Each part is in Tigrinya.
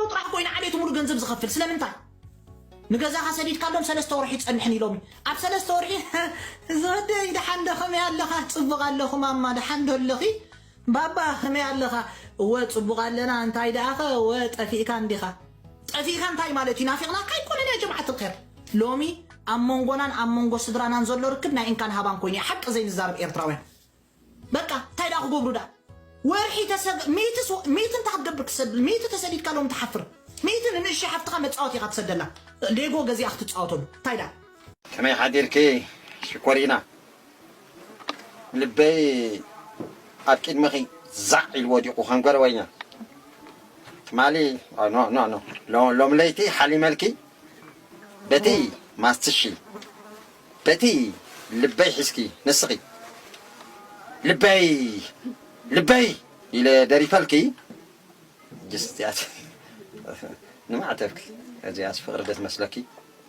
ው ጥራሕ ኮይኑ ዓሌቱ ሙሉ ገንዘብ ዝኸፍል ስለምንታይ ንገዛኻ ሰዲድካሎም ሰለስተ ወርሒ ይጸንሕን ኢሎም ኣብ ሰለስተ ወርሒ ዝወደይ ደሓን ዶ ከመይ ኣለኻ ጽቡቕ ኣለኹ ማማ ደሓን ዶ ኣለኺ ባባ ከመይ ኣለኻ እወ ጽቡቕ ኣለና እንታይ ደኣኸ እወ ጠፊእካ እንዲኻ ጠፊእካ እንታይ ማለት እዩ ናፊቅናካ ኣይኮነን ያጀምዓት ልከር ሎሚ ኣብ መንጎናን ኣብ መንጎ ስድራናን ዘሎ ርክብ ናይ እንካን ሃባን ኮይኑ እዩ ሓቂ ዘይንዛረብ ኤርትራውያን በቃ እንታይ ዳ ክገብሩ ዳ ወርሒ ተሰግ ሚእቲ ስ- ሚእቲ እንታይ ክትገብር ክትሰድ ሚእቲ ተሰዲድካ ሎም ትሓፍር ሚእቲ ንንእሽተይ ሓፍትኻ መጻወቲ ኢኻ ትሰደላ ሌጎ ገዚኣ ክትጻወተሉ እንታይ ዳ ከመይ ሓዲርኪ ሽኮሪና ልበይ ኣብ ቂድሚኺ ዛዕ ኢሉ ወዲቁ ከም ገረወኛ ትማሊ ኖ ኖ ኖ ሎሚ ለይቲ ሓሊመልኪ በቲ ማስትሺ በቲ ልበይ ሒዝኪ ንስኺ ልበይ ልበይ ኢለ ደሪፈልኪ ጅስትያት ንማዕተብኪ እዚኣስ ፍቅሪ ዶ ትመስለኪ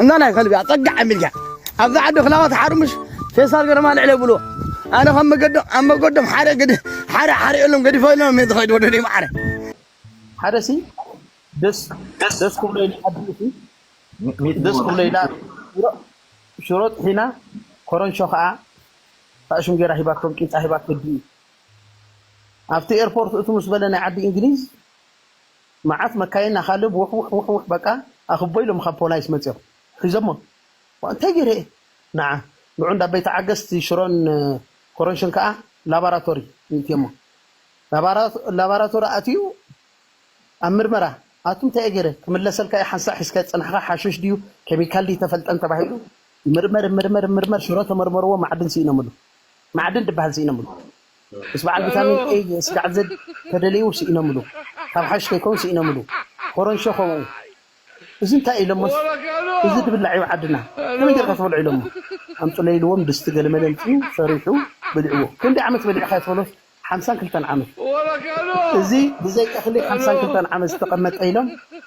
እንዳ ናይ ከልቢ ኣጸጋዕ ኣሚልካ ኣብዛ ዓዲ ክላባት ሓርምሽ ፌስታል ገረማ ልዕለ ብልዎ ኣነ ከም መገዶም ኣብ መገዶም ሓደ ግድ ሓደ ሓሪኦሎም ገዲፈሎም እየ ዝኸይድ ወደደይ ማዕረ ሓደ ሲ ደስ ደስ ክብሎ ኢሉ ዓዲ ሲ ደስ ክብሎ ኢላ ሽሮ ጥሒና ኮረንሾ ከዓ ኣእሽም ገይራ ሂባቶም ቂንጣ ሂባቶ ድዩ ኣብቲ ኤርፖርት እቱ ምስ በለ ናይ ዓዲ እንግሊዝ መዓት መካይን ኣኻልብ ዉሕ ዉሕ ዉሕ ዉሕ በቃ ኣኽቦ ኢሎም ኻብ ፖላይስ መጺኦም ሒዞሞም ዋእ እንታይ ጌረ እየ ነዓ ንዑ እንዳ ቤት ዓገስት ሽሮን ኮሮንሽን ከኣ ላባራቶሪ ይእትየሞ ላባራቶሪ ኣእትዩ ኣብ ምርመራ ኣቱ እንታይ እየ ጌረ ክምለሰልካ እየ ሓንሳእ ሒዝካዮ ዝጸናሕኻ ሓሽሽ ድዩ ኬሚካል ድዩ ተፈልጠን ተባሂሉ ይምርመር ይምርመር ይምርመር ሽሮ ተመርመርዎ ማዕድን ሲኢኖምሉ ማዕድን ድበሃል ሲኢኖምሉ ምስ በዓል ቪታሚን A ስጋዕ Z ተደለዩ ስኢኖምሉ ካብ ሓሽሽ ከይከውን ስኢኖምሉ ኮሮንሾ ከምኡ እዚ እንታይ ኢሎሞስ እዚ ድብላዕ ዩ ዓድና ከመይ ጌርካ ትበልዖ ኢሎሞ ኣምጹለይ ኢልዎም ድስቲ ገለመለ ኣምጺኡ ሰሪሑ በሊዕዎ ክንደይ ዓመት በሊዕካዮ ትበሎስ ሓምሳን ክልተን ዓመት እዚ ብዘይ እኽሊ ሓምሳን ክልተን ዓመት ዝተቀመጠ ኢሎም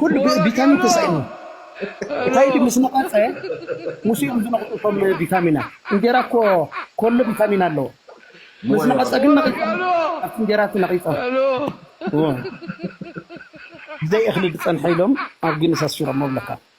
ኩሉ ቢታሚን ተሳኢኑ ኳይዲ ምስ ነቐፀ ምስ እዮም ዝነቕፁ እቶም ቢታሚናት እንጌራ እኮ ኮሎ ቢታሚን ኣለዎ ምስ ነቐፀ ግን ነቒፆም ኣብቲ እንጌራ እቲ ነቒፆም ብዘይ እኽሊ ዝፀንሐ ኢሎም ኣብ ጊንስ ኣስፊሮሞ እብለካ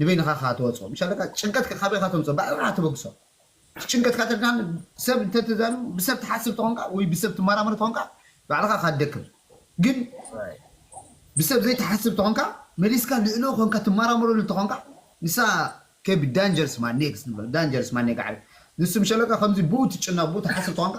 ንበይንኻ ከኣ ትወጽኦ ምሽ ኣለካ ጭንቀትካ ካበይካ ተምጽኦ ባዕልኻ ተበግሶ እቲ ጭንቀትካ ተድካ ሰብ እንተ ተዛሪቡ ብሰብ ትሓስብ ተኾንካ ወይ ብሰብ ትማራመር ተኾንካ ባዕልኻ እኻ ትደክም ግን ብሰብ ዘይትሓስብ ተኾንካ መሊስካ ልእሎ ኮንካ ትማራመረሉ ተኾንካ ንሳ ከብ ዳንጀርስ ማኔክስ ንብሎ ዳንጀርስ ማኔ ጋዕሪ ንሱ ምሽ ኣለካ ከምዚ ብኡ ትጭነቅ ብኡ ትሓስብ ተኾንካ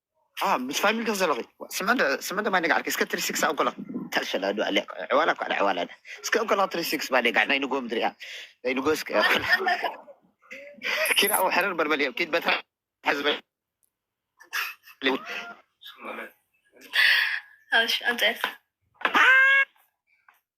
ፋም ምስ ፋሚሊ ዶ ዘለኺ ስመንዶ ስመንዶ ማይ ነጋዕርኪ እስከ ትሪ ሲክስ ኣንኮላ ታልሸላ ዶ ኣለ ዕዋላ እኳ ዳ ዕዋላ ዳ እስከ ኣንኮላ ትሪ ሲክስ ማይ ነጋዕ ናይ ንጎ ምድሪ እያ ናይ ንጎ እስከ ኪራ ኣብ ሕረር በልበል እዮም ኪድ በትራ ሕዝበ ኣምፀት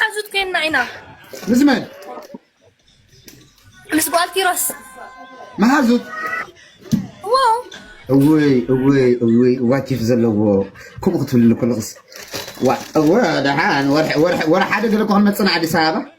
ሓዙት ኮይና ኢና ምስ መን ምስ ጓል ኪሮስ መሓዙት እወይ እወይ እወይ ዋቲፍ ዘለዎ ከምኡ ክትብልኒ ከለክስ ደሓን ወርሒ ሓደ ገለ እኮ ክንመፅና ኣዲስ ኣበባ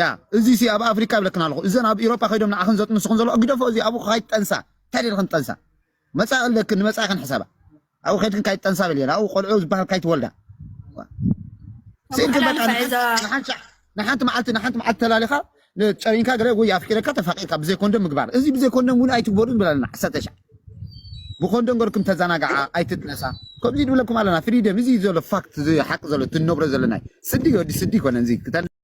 ያ እዚ ሲ ኣብ ኣፍሪቃ ይብለክን ኣለኹ እዘን ኣብ ኢሮጳ ከይዶም ንዓኽን ዘጥንስኹን ዘለዋ ግደፎ እዚ ኣብኡ ካይትጠንሳ እንታይ ደልኽን ትጠንሳ መጻኢ ኣለክን ንመጻኢኽን ሕሰባ ኣብኡ ከይድክን ካይትጠንሳ በል የለ ኣብኡ ቆልዑ ዝበሃል ካይትወልዳ ስኢልክን በቃ ንሓንቲ መዓልቲ ንሓንቲ መዓልቲ ተላሊኻ ጨሪንካ ገለ ወይ ኣፍቂረካ ተፋቂርካ ብዘይ ኮንደም ምግባር እዚ ብዘይ ኮንደም እውን ኣይትግበሩ ንብል ኣለና ዓሰርተ ሻዕ ብኮንደም ገርኩም ተዘናጋዓ ኣይትጥነሳ ከምዚ ንብለኩም ኣለና ፍሪደም እዚ ዘሎ ፋክት እዚ ሓቂ ዘሎ እቲ ንነብሮ ዘለና ስዲ ወዲ ስዲ ይኮነን እዚ